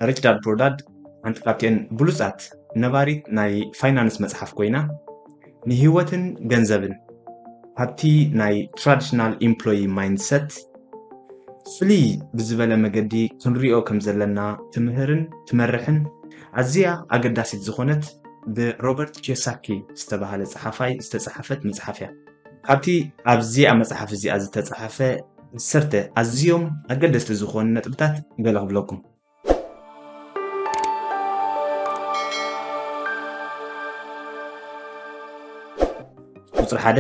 ሪችዳርድ ፕሮዳድ ሓንቲ ካብቲኤን ብሉጻት ነባሪት ናይ ፋይናንስ መጽሓፍ ኮይና ንህይወትን ገንዘብን ካብቲ ናይ ትራዲሽናል ኢምፕሎይ ማይንድሰት ፍልይ ብዝበለ መገዲ ክንሪኦ ከም ዘለና ትምህርን ትመርሕን ኣዝያ ኣገዳሲት ዝኾነት ብሮበርት ኬሳኪ ዝተባህለ ጸሓፋይ ዝተጻሓፈት መጽሓፍ እያ። ካብቲ ኣብዚኣ መጽሓፍ እዚኣ ዝተጻሕፈ ዓሰርተ ኣዝዮም ኣገደስቲ ዝኾኑ ነጥብታት ገለ ክብለኩም። ቁጽሪ ሓደ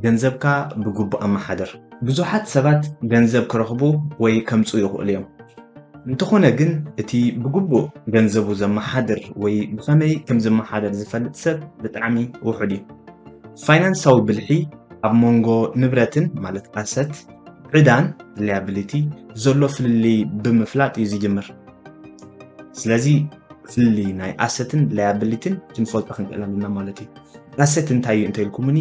ገንዘብካ ብግቡእ ኣመሓድር። ብዙሓት ሰባት ገንዘብ ክረኽቡ ወይ ከምጽኡ ይኽእሉ እዮም። እንተኾነ ግን እቲ ብግቡእ ገንዘቡ ዘመሓድር ወይ ብኸመይ ከም ዝመሓደር ዝፈልጥ ሰብ ብጣዕሚ ውሑድ እዩ። ፋይናንሳዊ ብልሒ ኣብ መንጎ ንብረትን ማለት ኣሰት ዕዳን ሊያብሊቲ ዘሎ ፍልልይ ብምፍላጥ እዩ ዝጅምር ስለዚ ፍልልይ ናይ ኣሰትን ሊያብሊትን ክንፈልጦ ክንክእል ኣለና ማለት እዩ ኣሰት እንታይ እዩ እንተኢልኩምኒ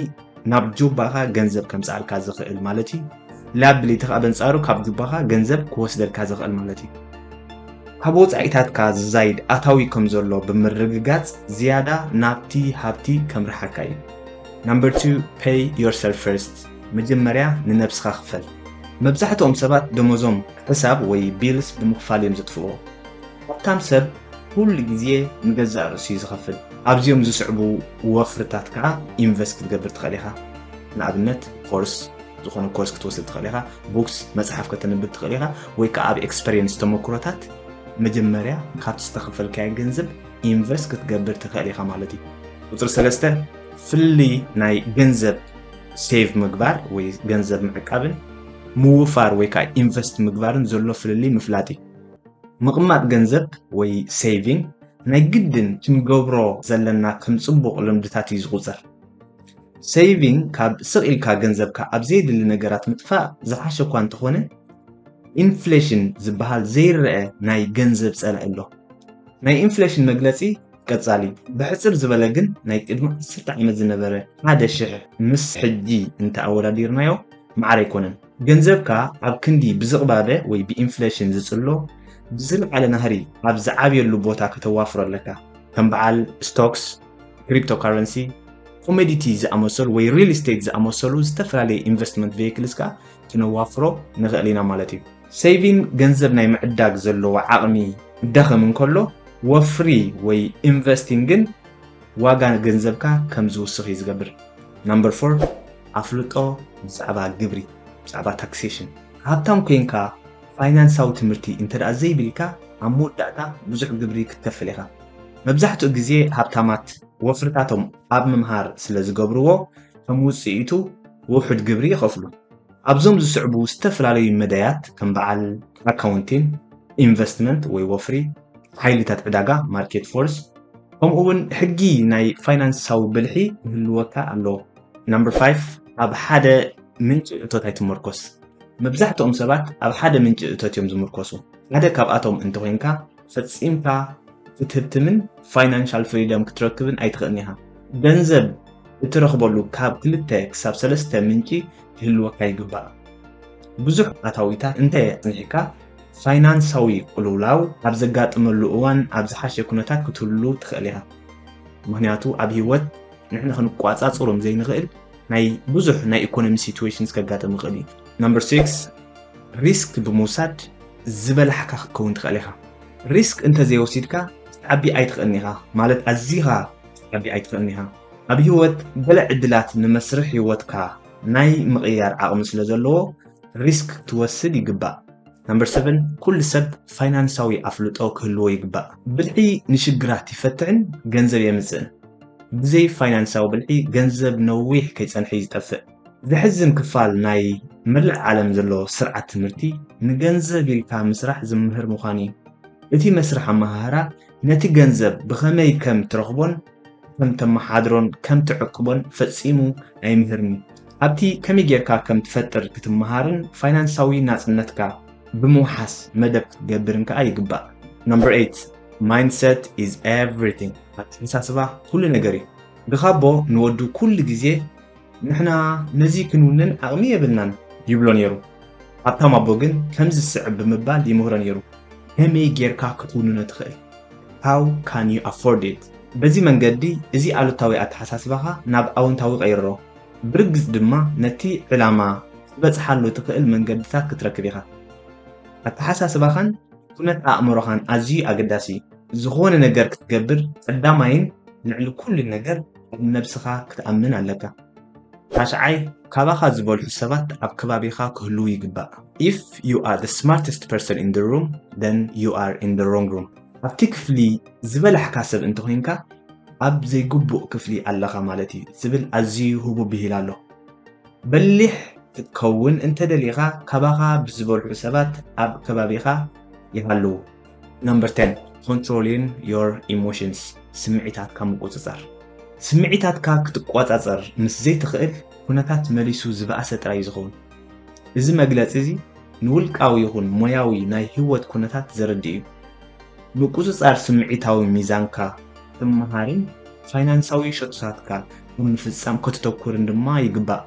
ናብ ጆባኻ ገንዘብ ከምፅኣልካ ዝኽእል ማለት እዩ ላያብሊቲ ከኣ በንጻሩ ካብ ጁባኻ ገንዘብ ክወስደልካ ዝኽእል ማለት እዩ። ካብ ወጻኢታትካ ዝዛይድ ኣታዊ ከም ዘሎ ብምርግጋጽ ዝያዳ ናብቲ ሃብቲ ከምርሓካ እዩ። Number two Pay Yourself First መጀመርያ ንነብስኻ ክፈል። መብዛሕትኦም ሰባት ደሞዞም ሕሳብ ወይ ቢልስ ብምኽፋል እዮም ዘጥፍእዎ። ሃብታም ሰብ ኩሉ ግዜ ንገዛእ ርእሱ እዩ ዝኸፍል። ኣብዚኦም ዝስዕቡ ወፍርታት ከኣ ኢንቨስት ክትገብር ትኽእል ኢኻ። ንኣብነት ኮርስ፣ ዝኾነ ኮርስ ክትወስድ ትኽእል ኢኻ ቡክስ መፅሓፍ ከተንብብ ትኽእል ኢኻ ወይ ከዓ ኣብ ኤክስፐሪየንስ ተመክሮታት መጀመርያ ካብቲ ዝተኸፈልካዮ ገንዘብ ኢንቨስት ክትገብር ትኽእል ኢኻ ማለት እዩ ቁፅሪ ሰለስተ ፍልይ ናይ ገንዘብ ሴቭ ምግባር ወይ ገንዘብ ምዕቃብን ምውፋር ወይ ከዓ ኢንቨስት ምግባርን ዘሎ ፍልልይ ምፍላጥ እዩ ምቕማጥ ገንዘብ ወይ ሴቪንግ ናይ ግድን ክንገብሮ ዘለና ከም ፅቡቕ ልምድታት እዩ ዝቑፀር ሰይቪንግ ካብ ስቕ ኢልካ ገንዘብካ ኣብ ዘየድሊ ነገራት ምጥፋእ ዝሓሸ እኳ እንተኾነ ኢንፍሌሽን ዝበሃል ዘይረአ ናይ ገንዘብ ጸላኢ ኣሎ። ናይ ኢንፍሌሽን መግለጺ ቀጻሊ ብሕጽር ዝበለ ግን ናይ ቅድሚ ዓሰርተ ዓመት ዝነበረ ሓደ ሽሕ ምስ ሕጂ እንተ ኣወዳዲርናዮ ማዕረ ኣይኮነን። ገንዘብካ ኣብ ክንዲ ብዝቕባበ ወይ ብኢንፍሌሽን ዝጽሎ ብዝለዓለ ናህሪ ኣብ ዝዓብየሉ ቦታ ከተዋፍሮ ኣለካ፣ ከም በዓል ስቶክስ፣ ክሪፕቶካረንሲ፣ ኮሞዲቲ ዝኣመሰሉ ወይ ሪል ስቴት ዝኣመሰሉ ዝተፈላለዩ ኢንቨስትመንት ቬይክልስ ከዓ ክነዋፍሮ ንኽእል ኢና ማለት እዩ። ሰይቪን ገንዘብ ናይ ምዕዳግ ዘለዎ ዓቕሚ ክዳኸም እንከሎ ወፍሪ ወይ ኢንቨስቲን ግን ዋጋ ገንዘብካ ከም ዝውስኽ እዩ ዝገብር። ናምበር ፎር፣ ኣፍልጦ ብዛዕባ ግብሪ፣ ብዛዕባ ታክሴሽን። ሃብታም ኮይንካ ፋይናንሳዊ ትምህርቲ እንተድኣ ዘይብልካ ኣብ መወዳእታ ብዙሕ ግብሪ ክትከፍል ኢኻ። መብዛሕትኡ ግዜ ሃብታማት ወፍርታቶም ኣብ ምምሃር ስለ ዝገብርዎ ከም ውጽኢቱ ውሑድ ግብሪ ይኸፍሉ። ኣብዞም ዝስዕቡ ዝተፈላለዩ መዳያት ከም በዓል ኣካውንቲን፣ ኢንቨስትመንት ወይ ወፍሪ፣ ሓይልታት ዕዳጋ፣ ማርኬት ፎርስ፣ ከምኡ'ውን ሕጊ ናይ ፋይናንሳዊ ብልሒ ክህልወካ ኣለዎ። Number Five፣ ኣብ ሓደ ምንጪ እቶት ኣይትመርኮስ። መብዛሕትኦም ሰባት ኣብ ሓደ ምንጪ እቶት እዮም ዝምርኮሱ። ሓደ ካብኣቶም እንተኾይንካ፣ ፈጺምካ ክትህብትምን ፋይናንሻል ፍሪደም ክትረክብን ኣይትኽእልን ኢኻ። ገንዘብ እትረኽበሉ ካብ ክልተ ክሳብ ሰለስተ ምንጪ ክህልወካ ይግባእ። ብዙሕ ኣታዊታት እንተ ኣጽኒሕካ፣ ፋይናንሳዊ ቅልውላው ኣብ ዘጋጥመሉ እዋን ኣብ ዝሓሸ ኩነታት ክትህሉ ትኽእል ኢኻ። ምኽንያቱ ኣብ ህይወት ንሕና ክንቆጻጸሮም ዘይንኽእል ናይ ብዙሕ ናይ ኢኮኖሚ ሲትዌሽንስ ከጋጥም ይኽእል እዩ። Number 6፣ ሪስክ ብምውሳድ ዝበላሕካ ክትከውን ትኸእል ኢኻ። ሪስክ እንተ ዘይወሲድካ ክትዓቢ ኣይትኸእልን ኢኻ፣ ማለት ኣዚኻ ክትዓቢ ኣይትኸእልን ኢኻ። ኣብ ህይወት ገለ ዕድላት ንመስርሕ ህይወትካ ናይ ምቕያር ዓቕሚ ስለ ዘለዎ ሪስክ ክትወስድ ይግባእ። Number Seven፣ ኩሉ ሰብ ፋይናንሳዊ ኣፍልጦ ክህልዎ ይግባእ። ብልሒ ንሽግራት ይፈትሕን ገንዘብ የምጽእን። ብዘይ ፋይናንሳዊ ብልሒ ገንዘብ ነዊሕ ከይጸንሐ'ዩ ዝጠፍእ። ዘሕዝን ክፋል ናይ መላእ ዓለም ዘሎ ስርዓት ትምህርቲ ንገንዘብ ኢልካ ምስራሕ ዝምህር ምዃኑ እዩ። እቲ መስርሕ ኣመሃህራ ነቲ ገንዘብ ብኸመይ ከም ትረኽቦን ከም ተመሓድሮን ከም ትዕቅቦን ፈጺሙ ኣይምህርን እዩ። ኣብቲ ከመይ ጌርካ ከም ትፈጥር ክትመሃርን ፋይናንሳዊ ናጽነትካ ብምውሓስ መደብ ክትገብርን ከኣ ይግባእ። Number 8፣ Mindset is everything፣ ኣተሓሳስባ ኩሉ ነገር እዩ። ግኻቦ ንወዱ ኩሉ ግዜ ንሕና ነዚ ክንውንን ዓቕሚ የብልናን ይብሎ ነይሩ። ሃብታም ኣቦ ግን ከምዚ ዝስዕብ ብምባል ይምህሮ ነይሩ፣ ከመይ ጌርካ ክትውንኖ ትኽእል? How can you afford it? በዚ መንገዲ እዚ ኣሉታዊ ኣተሓሳስባኻ ናብ ኣወንታዊ ቀይሮ፣ ብርግጽ ድማ ነቲ ዕላማ ክትበጽሓሉ እትኽእል መንገድታት ክትረክብ ኢኻ። ኣተሓሳስባኻን ኩነት ኣእምሮኻን ኣዝዩ ኣገዳሲ እዩ። ዝኾነ ነገር ክትገብር ቀዳማይን ልዕሊ ኩሉን ነገር ኣብ ነብስኻ ክትኣምን ኣለካ ራሻዓይ ካባኻ ዝበልሑ ሰባት ኣብ ከባቢኻ ክህልዉ ይግባእ if you are the smartest person in the room then you are in the wrong room ኣብቲ ክፍሊ ዝበላሕካ ሰብ እንተኮይንካ ኣብ ዘይግቡእ ክፍሊ ኣለኻ ማለት እዩ ዝብል ኣዝዩ ህቡ ብሂል ኣሎ በሊሕ ክትከውን እንተደሊኻ ካባኻ ብዝበልሑ ሰባት ኣብ ከባቢኻ ይሃልዉ ነምበር ተን ኮንትሮሊን ዮር ኢሞሽንስ ስምዒታትካ ምቁፅፃር ስምዒታትካ ክትቆፃፀር ምስ ዘይትኽእል ኩነታት መሊሱ ዝበኣሰ ጥራይ እዩ ዝኸውን እዚ መግለፂ እዚ ንውልቃዊ ይኹን ሞያዊ ናይ ህይወት ኩነታት ዘረድእ እዩ ምቁፅፃር ስምዒታዊ ሚዛንካ ትመሃርን ፋይናንሳዊ ሸቶታትካ ኣብ ምፍፃም ከተተኩርን ድማ ይግባእ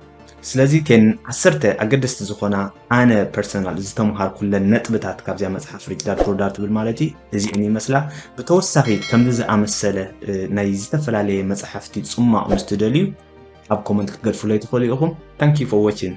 ስለዚ እተን ዓሰርተ ኣገደስቲ ዝኾና ኣነ ፐርሰናል ዝተምሃርኩለን ነጥብታት ካብዚኣ መጽሓፍ ሪች ዳድ ፑር ዳድ ትብል ማለት እዩ እዚእን ይመስላ። ብተወሳኺ ከምዚ ዝኣመሰለ ናይ ዝተፈላለየ መጽሓፍቲ ጽሟቕ ምስ ትደልዩ ኣብ ኮመንት ክትገድፉለይ ትኽእሉ ኢኹም። Thank you for watching!